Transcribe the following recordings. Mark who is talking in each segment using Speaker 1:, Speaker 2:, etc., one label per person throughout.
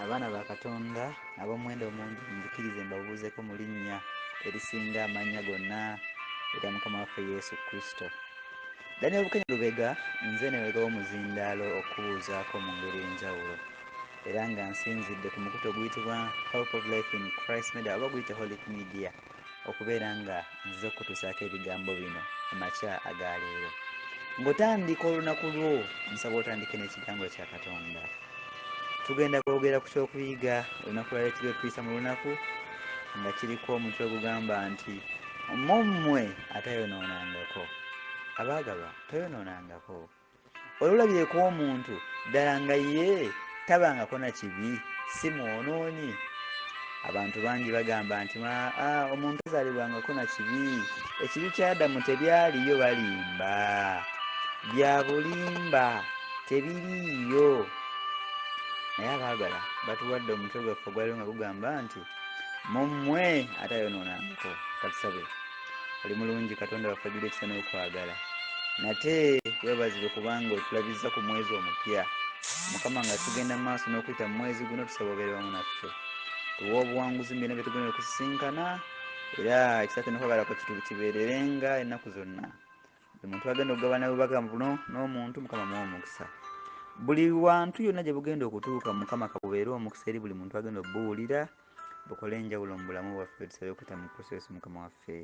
Speaker 1: abaana ba katonda ab'omuwendo omungi muzikirize mbabuuzeko mu linnya erisinga amannya gonna erya mukama waffe yesu kristo daniel bukenya lubega nze newega w'omuzindaalo okubuuzaako mu ngeri enjawulo Era nga nsinzidde ku mukutu oguyitibwa Hope of Life in Christ Media oba guyite Holic Media okubeera nga nzize okukutuusaako ebigambo bino mu makya aga leero. Ng'otandika olunaku lwo, nsaba otandike n'ekigambo kya Katonda. Tugenda kwogera ku ky'okuyiga olunaku lwa leero kigenda tuyisa mu lunaku nga kiriko omutwe ogugamba nti mu mmwe atayonoonangako. Abaagalwa, toyonoonangako. Wali olabyeko omuntu ddala nga ye tabangako na kibi si mwonoonyi? Abantu bangi bagamba nti omuntu azaalibwangako na kibi, ekibi kya Adamu tebyaliyo. Balimba, bya bulimba, tebiriiyo. Naye abaagala batuwadde omutwe gwaffe ogwaliwo nga gugamba nti mu mmwe atayonoonangako. Katusabe. oli mulungi katonda waffe ajjula ekisa n'okwagala nate webazibwe kubanga otulabizza ku mwezi omupya mukama nga tugenda mu maaso n'okuyita mu mwezi guno tusaba obeere wamu naffe tuwa obuwanguzi mu byona bye tugenda okusisinkana era ekisa kyo nokwagala kwe kibeererenga ennaku zonna buli muntu agenda okugabana bubaga buno n'omuntu mukama muwa omukisa buli wantu yonna gye bugenda okutuuka mukama kabubeere omukisa eri buli muntu agenda obubuwulira bukola enjawulo mu bulamu bwaffe tusabe okuyita mu kristo yesu mukama waffe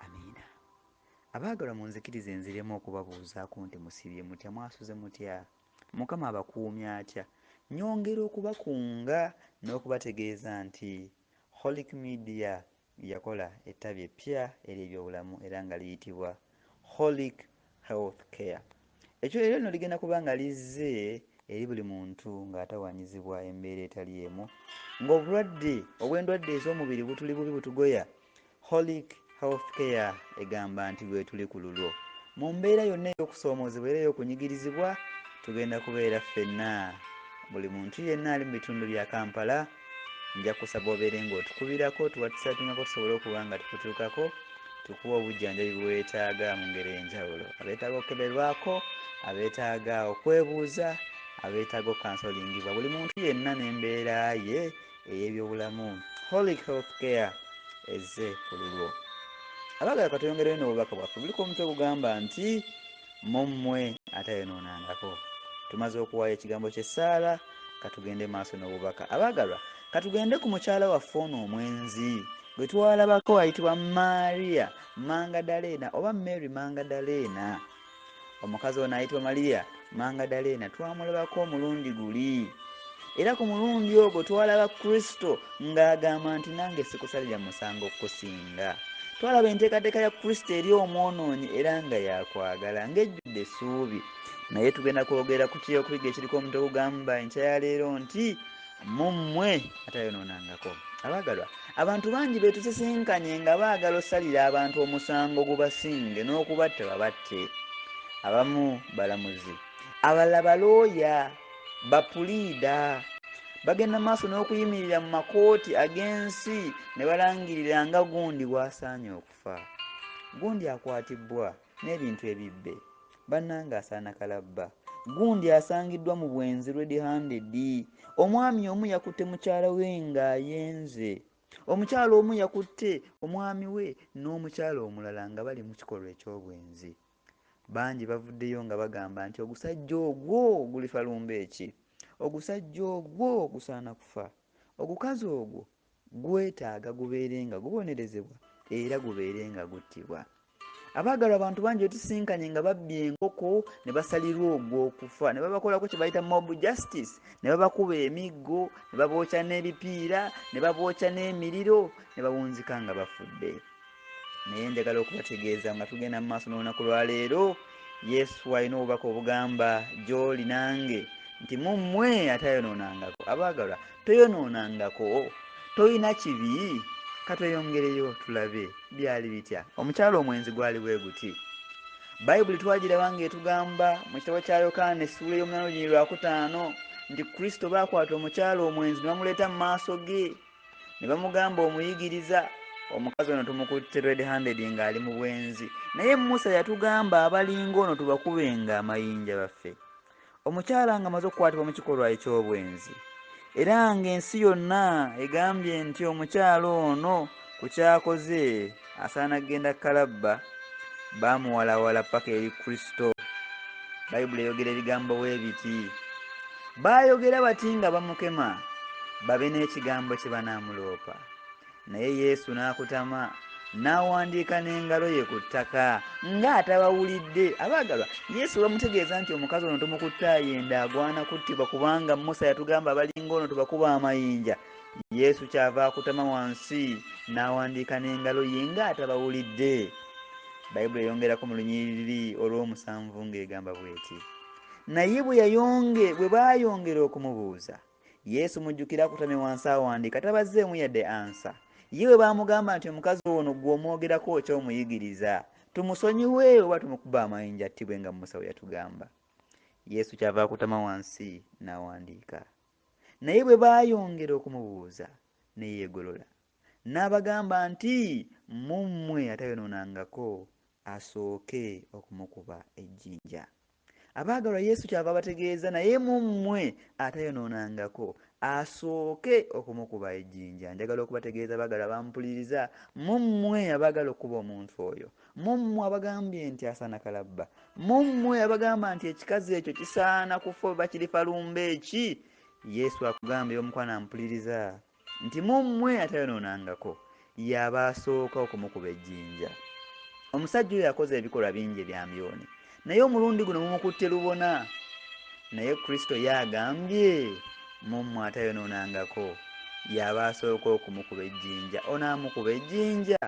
Speaker 1: amiina abaagalwa munzikiriza enziremu okubabuuzaako nti musibye mutya mwasuze mutya mukama abakuumya atya nyongera okubakunga n'okubategeeza nti holic media Yakola ettabi eppya ery'ebyobulamu era nga liyitibwa Holic Health Care. Ekyo eryo lino ligenda kuba nga lizze eri buli muntu ng'atawanyizibwa embeera etali emu. Ng'obulwadde obw'endwadde ez'omubiri butuli bubi butugoya, Holic Health Care egamba nti lwetuli ku lulwo. Mu mbeera yonna ey'okusoomoozebwa era ey'okunyigirizibwa, tugenda kubeera ffenna, buli muntu yenna ali mu bitundu bya Kampala, nja kusaba obeere ng'otukubirako otuwatisapingako tusobole okuba nga tukutuukako tukuwa obujjanjabi bwe weetaaga mu ngeri enjawulo abeetaaga okukeberwako abeetaaga okwebuuza abeetaaga okansolingibwa buli muntu yenna n'embeera ye ey'ebyobulamu holy health care ezze ku lulwo abagala katweyongereyo n'obubaka bwaffe buliko omutwe gugamba nti mu mmwe atayonoonangako. Tumaze okuwaayo ekigambo ky'essaala, ka tugende maaso n'obubaka. Abaagalwa, ka tugende ku mukyala waffe ono omwenzi gwe twalabako ayitibwa Maria Mangadaleena oba Mary Mangadaleena. Omukazi ono ayitibwa Maria Mangadaleena twamulabako omulundi guli. era ku mulundi ogwo twalaba kristo ng'agamba nti nange sikusalira musango kusinga twalaba enteekateeka ya kristo eri omwonoonyi era nga yakwagala ng'ejjudde essuubi naye tugenda kwogera ku kyeyokuyiga ekiriko omuntu ogugamba enkya ya leero nti mu mmwe atayonoonangako abaagalwa abantu bangi betusisinkanye nga baagala osalira abantu omusango gubasinge n'okubatta babatte abamu balamuzi abalala balooya Bapuliida bagenda mu maaso n'okuyimirira mu makooti ag'ensi ne balangirira nga gundi bw'asaanye okufa. Gundi akwatibbwa n'ebintu ebibbe. Bannange asaana kalabba. Gundi asangiddwa mu bwenzi red handed. Omwami omu yakutte mukyala we ng'ayenze. Omukyala omu yakutte omwami we n'omukyala omulala nga bali mu kikolwa eky'obwenzi. Bangi bavuddeyo nga bagamba nti ogusajja ogwo gulifa lumbe ki? Ogusajja ogwo gusaana kufa. Ogukazi ogwo gwetaaga gubeere nga gubonerezebwa era gubeere nga guttibwa. Abaagalwa abantu bangi betusisinkanye nga babbye enkoko ne basalirwa ogw'okufa ne babakolako kye bayita mob justice ne babakuba emiggo ne babookya n'ebipiira ne babookya n'emiriro ne bawunzika nga bafudde. naye njagala okubategeeza nga tugenda mu maaso n'olunaku lwa leero yesu alina obubaka obugamba gy'oli nange nti mu mmwe atayonoonangako abaagalwa toyonoonangako tolina kibi katweyongereyo tulabe byali bitya omukyalo omwenzi gwali bwe guti bayibuli twagiraba ng'etugamba mu kitabo kya yokaana essuula ey'omunana olunyiri lwakutaano nti kristo baakwata omukyalo omwenzi ne bamuleeta mu maaso ge ne bamugamba omuyigiriza omukazi ono tumukutte red handed ng'ali mu bwenzi naye musa yatugamba abalinga ono tubakubenga amayinja baffe omukyala nga amaze okukwatibwa mu kikolwa eky'obwenzi era ng'ensi yonna egambye nti omukyala ono ku kyakoze asaana kugenda kalabba baamuwalawala paka eri kristo bayibuli eyogera ebigambo bwe biti baayogera bati nga bamukema babe n'ekigambo kye banaamuloopa naye yesu n'akutama n'awandiika n'engalo ye ku ttaka ng'atabawulidde abaagalwa yesu bamutegeeza nti omukazi ono tomukutte ayenda agwana kuttibwa kubanga musa yatugamba abalinga ono tubakuba amayinja yesu kyava akutama wansi n'awandiika n'engalo ye nga atabawulidde bayibuli eyongerako mu lunyiriri olw'omusanvu ng'egamba bweti naye bwe yayonge bwe baayongera okumubuuza yesu mujjukira akutame wansi awandiika tabazzeemu yadde ansa ye bwe baamugamba nti omukazi ono gwe omwogerako okya omuyigiriza tumusonyiwe oba tumukuba amayinja attibwe nga musa we yatugamba yesu kyava akutama wansi n'awandiika Naye bwe baayongera okumubuuza, ne yeegolola, n'abagamba nti, Mu mmwe atayonoonangako, asooke okumukuba ejjinja. Abaagalwa, Yesu kyava abategeeza, Naye mu mmwe atayonoonangako, asooke okumukuba ejjinja. Njagala okubategeeza, abaagalwa abampuliriza, mu mmwe abaagala okukuba omuntu oyo, Mu mmwe abagambye nti asaana kalabba, mu mmwe abagamba nti ekikazi ekyo kisaana kufa oba kirifa lumbe ki, Yesu akugambye omukwano ampuliriza nti mu mmwe atayonoonangako y'aba asooka okumukuba ejjinja. Omusajja oyo akoze ebikolwa bingi ebyambyone, Naye omulundi guno mumukutte lubona, naye Kristo ye agambye, Mu mmwe atayonoonangako, y'aba asooka okumukuba ejjinja. Ono amukuba ejjinja!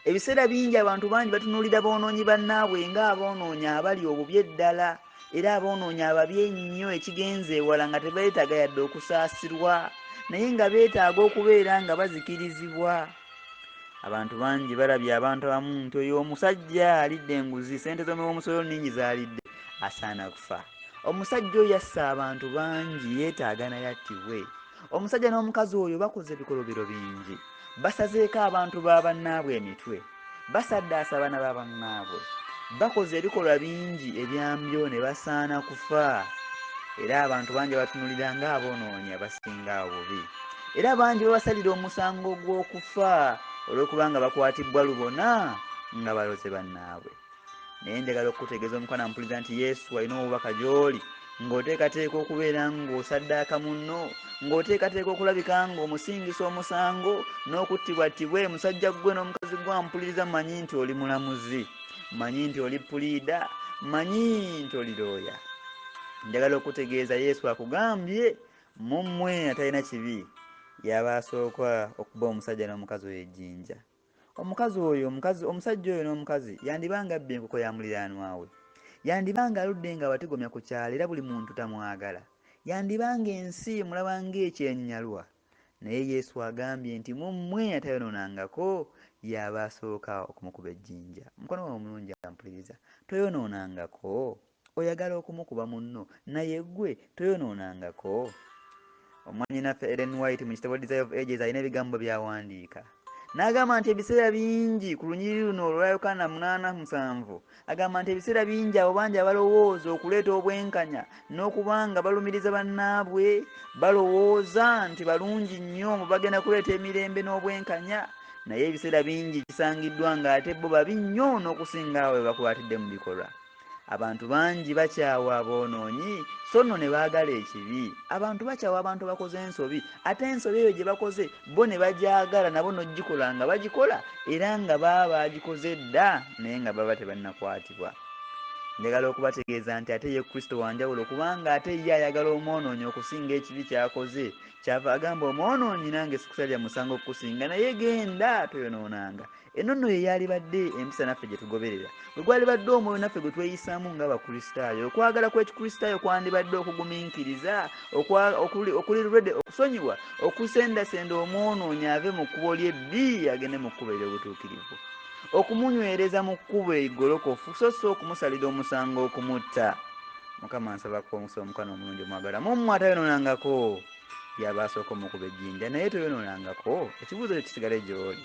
Speaker 1: Ebiseera bingi abantu bangi batunuulira boonoonyi bannaabwe ng'aboonoonyi abali obubi eddala, era aboonoonyi ababi ennyo ekigenze ewala nga tebeetaaga yadde okusaasirwa, naye nga beetaaga okubeera nga bazikirizibwa. abantu bangi balabye abantu abamu nti oyo omusajja alidde enguzi sente zomuwomusolo ningi zalidde asaana kufa omusajja oyo yassa abantu bangi yetaaga naye attibwe omusajja n'omukazi oyo bakoze ebikolobero bingi basazeeko abantu ba bannaabwe emitwe Basaddaase abaana ba bannaabwe, bakoze ebikolwa bingi ebyambyo ne basaana kufa, era abantu bangi babatunulira nga abonoonyi abasinga obubi, era bangi babasalira omusango gw'okufa olw'okubanga bakwatibbwa lubona nga baloze bannaabwe. Naye njagala okukutegeeza omukwana mpuliza nti Yesu alina obubaka gy'oli. Ng'oteekateeka okubeera ng'osaddaaka munno, ng'oteekateeka okulabika ng'omusingisa omusango n'okuttibwattibwa e musajja ggwe n'omukazi gwe ampuliriza manyi nti oli mulamuzi manyi nti oli puliida manyi nti oli looya njagala okutegeeza yesu akugambye mu mmwe atalina kibi yaba asooka okuba omusajja n'omukazi oyo ejjinja Omukazi oyo, omukazi, omusajja oyo n'omukazi, yandiba nga abbye enkoko ya muliraanwa we. Yandiba nga aludde nga abatigomya ku kyalo era buli muntu tamwagala. Yandiba nga ensi emulaba nga ekyenyalwa. Naye Yesu agambye nti mu mmwe atayonoonangako, y'aba asooka okumukuba ejjinja. Mukwano gwange omulungi ampuliriza, toyonoonangako? Oyagala okumukuba munno naye gwe toyonoonangako? Mwannyinaffe Ellen White mu kitabo Desire of Ages alina ebigambo by'awandiika n'agamba nti ebiseera bingi ku lunyiriri luno olwa Yokaana munaana musanvu agamba nti ebiseera bingi abo bangi abalowooza okuleeta obwenkanya n'okuba nga balumiriza bannaabwe balowooza nti balungi nnyo mu bagenda kuleeta emirembe n'obwenkanya naye ebiseera bingi kisangiddwa ng'ate bo babi nnyo n'okusinga abo be bakwatidde mu bikolwa abantu bangi bakyawa aboonoonyi so nno ne baagala ekibi abantu bakyawa abantu abakoze ensobi ate ensobi eyo gye bakoze bo ne bagyagala nabo n'ogikola nga bagikola era nga baba baagikoze dda naye nga baba tebannakwatibwa njagala okubategeeza nti ate ye kristo wanjawulo kubanga ate ye ayagala omwonoonyi okusinga ekibi kyakoze kyava agamba omwonoonyi nange sikusalira musango okukusinga naye genda toyonoonanga Eno nno ye yaalibadde empisa naffe gye tugoberera, bwe gwalibadde omwoyo naffe gwe tweyisaamu ng'Abakristaayo. Okwagala kw'Ekikristaayo kwandibadde okugumiikiriza, okuli ready okusonyiwa, okusendasenda omwonoonyi ave mu kkubo lye bbi agende mu kkubo ery'obutuukirivu, okumunywereza mu kkubo egolokofu so si okumusalira omusango okumutta. Mukama nsaba akuwe omukisa Omukana omulungi omwagalwa mu mmwe atayonoonangako. yaba asooka omukuba ejjinja naye toyonoonangako ekibuuzo kyo kisigale gy'oli